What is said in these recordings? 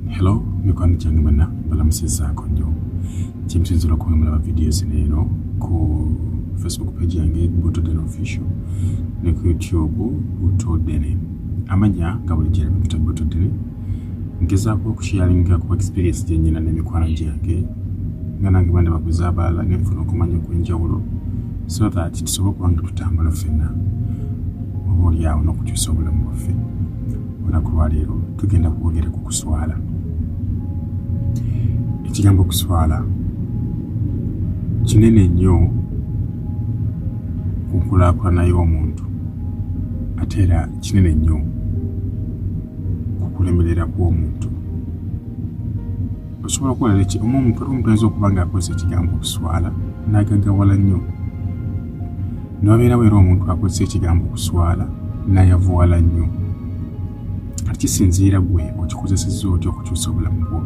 hello mikwano gyange bana balamusizaako nnyo kyemusinzira okuwemulaba vidiyo zino eno ku facebook page yange butoden official ne ku youtube butodene amanya nga buli gyera bikuta butodene ngezaako okushiyalinga ku experience gyenyina n'emikwano gyange nga nange bandi baguza abalala nenfuna okumanya okwenjawulo so that tusobola okuba nga tutambula ffenna oba olyawo n'okukyusa obulamu bwaffe olunaku lwaleero tugenda kwogera ku kuswala ekigambo okuswala kinene nnyo ku nkulaakulana y'omuntu ate era kinene nnyo ku kulemerera kw'omuntu osobola okuwala leki omu omuntu omuntu ayinza okuba ng'akozesa ekigambo okuswala n'agagawala nnyo Nobeera wera omuntu akozesa ekigambo kuswala nayavuwala nnyo kati kisinziira gwe okikozesezza otya okukyusa obulamu bwo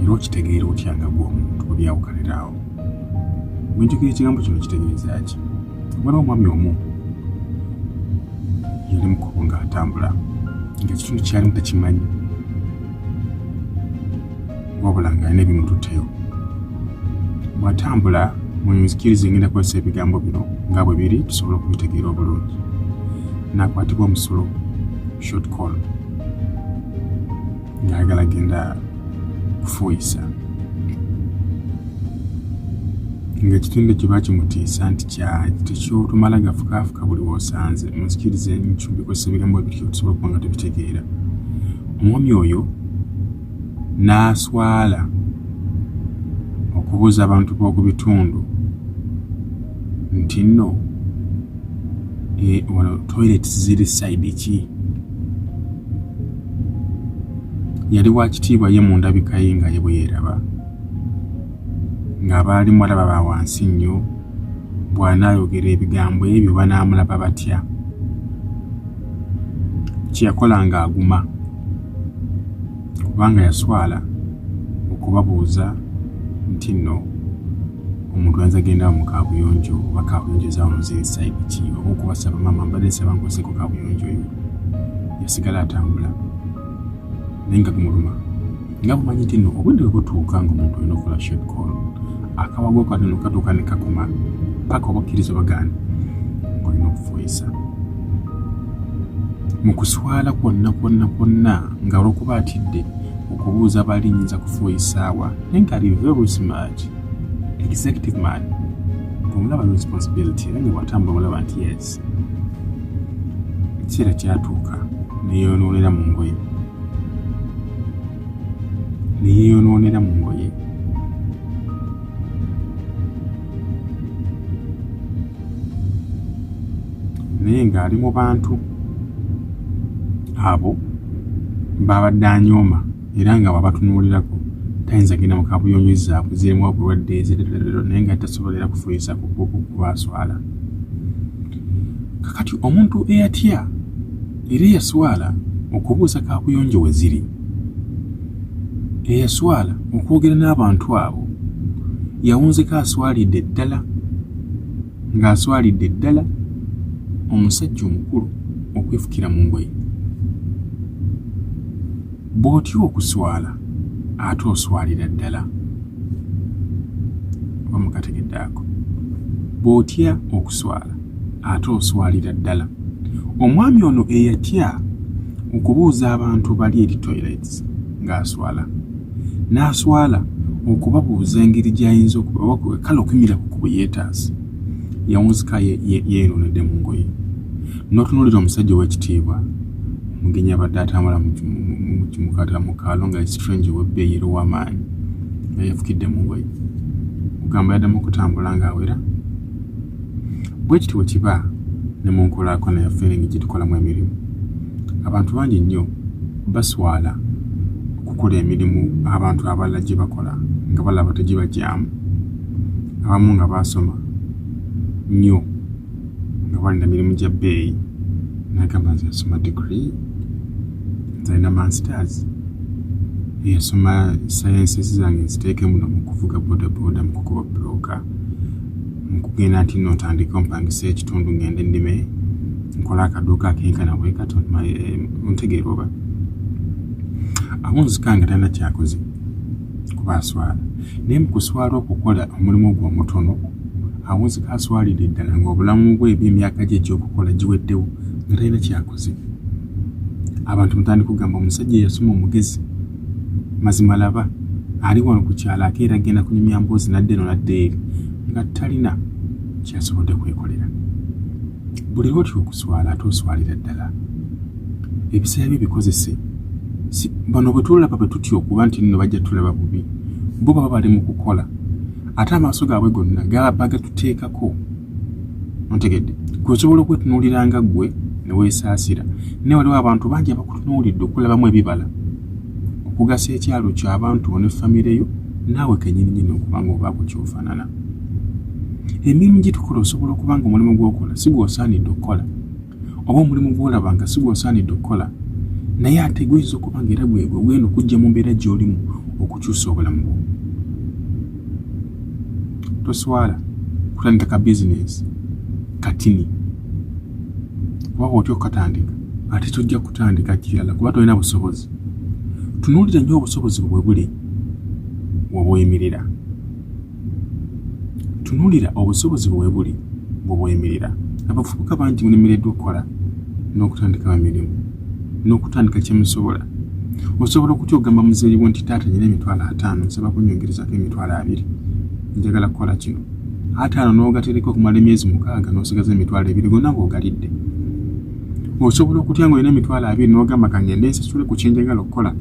era okitegeera otya nga gwe omuntu obyawukaniraawo bwenjogera ekigambo kino kitegeeza ki waliwo omwami omu yali mukubo nga atambula nga kitundu kyalimu takimanyi wabula nga alina ebimututeyo mwatambula munzikiriza engenda kukozesa ebigambo bino nga bwe biri tusobola okubitegeera obulungi nakwatibwa omusulo short call ngaagala genda kufuuyisa ngaekitendo kye bakimutiisa nti tekyotumala gafukaafuka buli wosanze munzikiriza enkyo bikozesa ebigambo bityo tusobola okuba nga tubitegeera omwami oyo n'aswala okubuuza abantu b'oku bitundu nti nno eh, wano toilet ziri saidi ki yali wa kitiibwa ye mu ndabika ye nga ye bwe yeeraba ng'abaalimu alaba ba wansi nnyo bw'anaayogera ebigambo ebyo banaamulaba batya kye yakola ng'aguma kubanga yaswala okubabuuza nti nno omuntu ayinza genda mu kabuyonjo oba kabuyonjo ezamuzirisayidi ki oba okubasaba maama mbadde nsaba nkozeko kabuyonjo oyo yasigala atambula naye nga gumuluma nga bumanyi nti nno obudde bwe butuuka nga omuntu olina okukola short call akawago kano katuuka ne kakuma paka obakkiriza obagaana ng'olina okufuuyisa mu kuswala kwonna kwonna kwonna nga olwokuba atidde okubuuza baali nyinza kufuwa esaawa naye nga ali very smart executive man omulaba no responsibility era nga watambula olaba nti yes ekiseera kyatuuka neyeyonoonera mu ngoye neyeyonoonera mu ngoye naye ng'ali mu bantu abo baabadde anyooma era nga babatunuulirako tayinza genda mu kabuyonjo zaabwe zirimu obulwadde ezirerero naye nga tasobola era kufuyiza kubaswala kakati omuntu eyatya era eyaswala okubuuza kakuyonjo we ziri eyaswala okwogera n'abantu abo yawunzeko aswalidde ddala ng'aswalidde ddala omusajja omukulu okwefukira mu ngoye bw'otya okuswala ate oswalira ddala oba mukategedde ako bw'otya okuswala ate oswalira ddala omwami ono eyatya okubuuza abantu bali eri toilets ng'aswala n'aswala okubabuuza engeri gy'ayinza okubabakuba kale okumira ku kubo yeetaaze yawunzika yeeronedde mu ngoye n'otunuulira omusajja ow'ekitiibwa mugenyi abadde atambula mukimukatala mu kaalo nga strange ow'ebbeeyi era ow'amaanyi nga yafukidde mu ngoye ogamba yaddamu okutambula ng'awera bwe kityo bwe kiba ne mu nkulaakona ya feeringi gye tukolamu emirimu abantu bangi nnyo baswala okukola emirimu abantu abalala gye bakola nga balaba tegibagyamu abamu nga baasoma nnyo nga balina mirimu gya bbeeyi nagamba nze yasoma digiri nzalina masters yasoma sayensi zange nziteeke muno mu kuvuga bodaboda mu kukuba buloka nkugenda nti no ntandika ompangisa ekitundu ngende nnime nkola akaduuka akenkana bwe kato eh, ntegeera oba awo nzika nga talina kyakoze kuba aswala naye mu kuswala okukola omulimu ogwo omutono awo nzika aswalidde ddala ng'obulamu bwe ebyemyaka gye egyokukola giweddewo nga talina kyakoze abantu mutandika okugamba omusajja eyasoma omugezi mazima laba ali wano ku kyalo ate era genda kunyumya mboozi nadde no nadde eri nga talina kyasobodde kwekolera buli lwotya okuswala ate oswalira ddala ebiseera byo bikozese bano bwe tulaba bwe tutya okuba nti nno bajja tulaba bubi bo baba bali mu kukola ate amaaso gaabwe gonna gaba bagatuteekako ontegedde gwe osobola okwetunuulira nga ggwe ne weesaasira naye waliwo abantu bangi abakutunuulidde okulabamu ebibala okugasa ekyalo kyo abantu bo ne famire yo naawe kenyininyini okuba nga obaako kyofaanana emirimu gye tukola osobola okuba nga omulimu gw'okola si gw'osaanidde okukola oba omulimu gw'olaba nga si gw'osaanidde okukola naye ate guyinza okuba nga era gwegwe gwena okujja mu mbeera gy'olimu okukyusa obulamu bwo toswala kutandika ka bizinesi katini kuba otya okukatandika ate tojja kutandika kirala kuba tolina busobozi tunuulira nnyo obusobozi bwe buli wobweyimirira Tunuulira obusobozi bwe buli bwe bweyimirira. Abavubuka bangi mulemereddwa okukola n'okutandikawo emirimu n'okutandika kye musobola. Osobola okutya okugamba muzeeyi wo nti taata nyina emitwalo ataano nsaba kunyongerezako emitwalo abiri njagala kukola kino ataano n'ogatereka okumala emyezi mukaaga n'osigaza emitwalo ebiri gonna ng'ogalidde. Osobola okutya ng'olina emitwalo abiri n'ogamba kangende nsasule ku kyenjagala okukola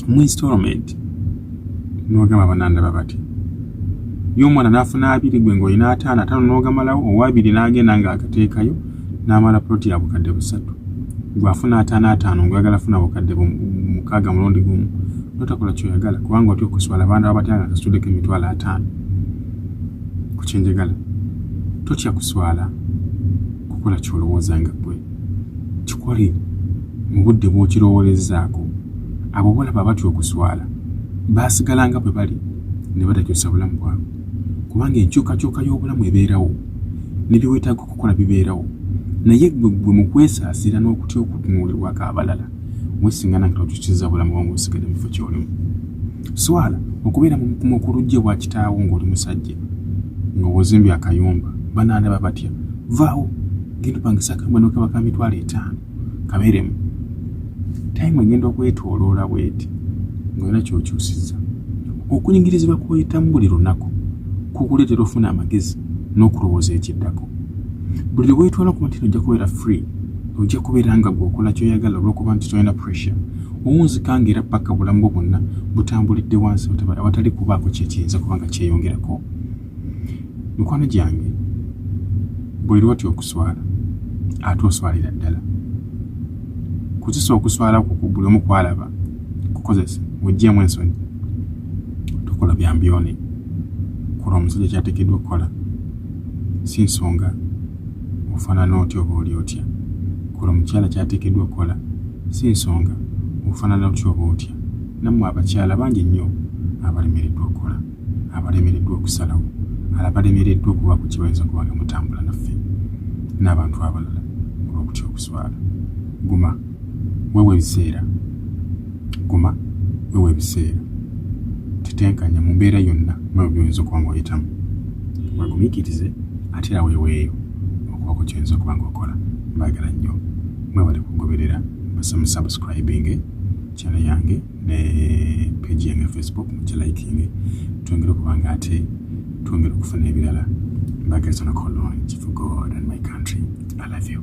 mu installment. nogamba banandaba bati ye omwana nafuna abiri gwe ngaolina ataano ataano nogamalawo owabiri nagenda nga agateekayo namala ploti ya bukadde busatu gwafuna ataano ataano ngwagala funa bukadde mukaaga mulundi gumu notakola kyoyagala kubanga otya okuswala abaana babatya nga kasitudeko emitwalo ataano kukyenjagala totya kuswala kukola kyolowooza nga gwe kikole mu budde bw'okirowoolezaako. Abo bolaba batya okuswala, baasigala nga bwe bali ne batakyusa bulamu bwabwe, kubanga enkyukakyuka y'obulamu ebeerawo, ne bye weetaaga okukola bibeerawo. Naye ggwe ggwe mu kwesaasira n'okutya okutunuulirwako abalala, weesingana nga tokyusizza bulamu bwamu busigale mu kifo ky'olimu. Swala okubeera mu bukumu okulujja ewa kitaawo ng'oli musajja, nga wozimbye akayumba, banaandaba batya? Vaawo! genda opangisa akambwa nokaba ka mitwalo etaano kabeeremu tayimu egenda okwetoloola bweti ngaolina kyokyusiza okunyingirizibwa kwoyitamu buli lunaku kukuleetera ofuna amagezi n'okulowooza ekiddako buli lwe weetwala okuba nti nojja kubeera free ojja kubeera nga gweokola kyoyagala olwokuba nti tolina pressure owunzika nga era paka obulamu bwo bwonna butambulidde wansi awatali kubaako kyekiyinza kuba nga kyeyongerako mikwano gyange buli lwoti okuswala ate oswalira ddala kozesa okuswala ku buli omu kwalaba kukozesa wejjeemu ensonyi tokola byambyone kola omusajja kyatekeddwa okukola si nsonga ofaanana otya oba oli otya kola omukyala kyatekeddwa okukola si nsonga ofaanana otya oba otya nammwe abakyala bangi nnyo abalemereddwa okukola abalemereddwa okusalawo ala balemereddwa okubaako kye bayinza kuba nga mutambula naffe n'abantu abalala olw'okutya okuswala guma wewa ebiseera guma wewa ebiseera tetenkanya mu mbeera yonna mwebyo byoyinza okuba nga oyitamu wegumikirize ate era weweeyo okubaako kyoyinza okuba nga okola mbaagala nnyo mwebale kugoberera mbasaba musubscribinge kyana yange ne page yange facebook mujja likinge twongere okuba nga ate twongere okufuna ebirala mbagaliza nakolongi for god and my country i love you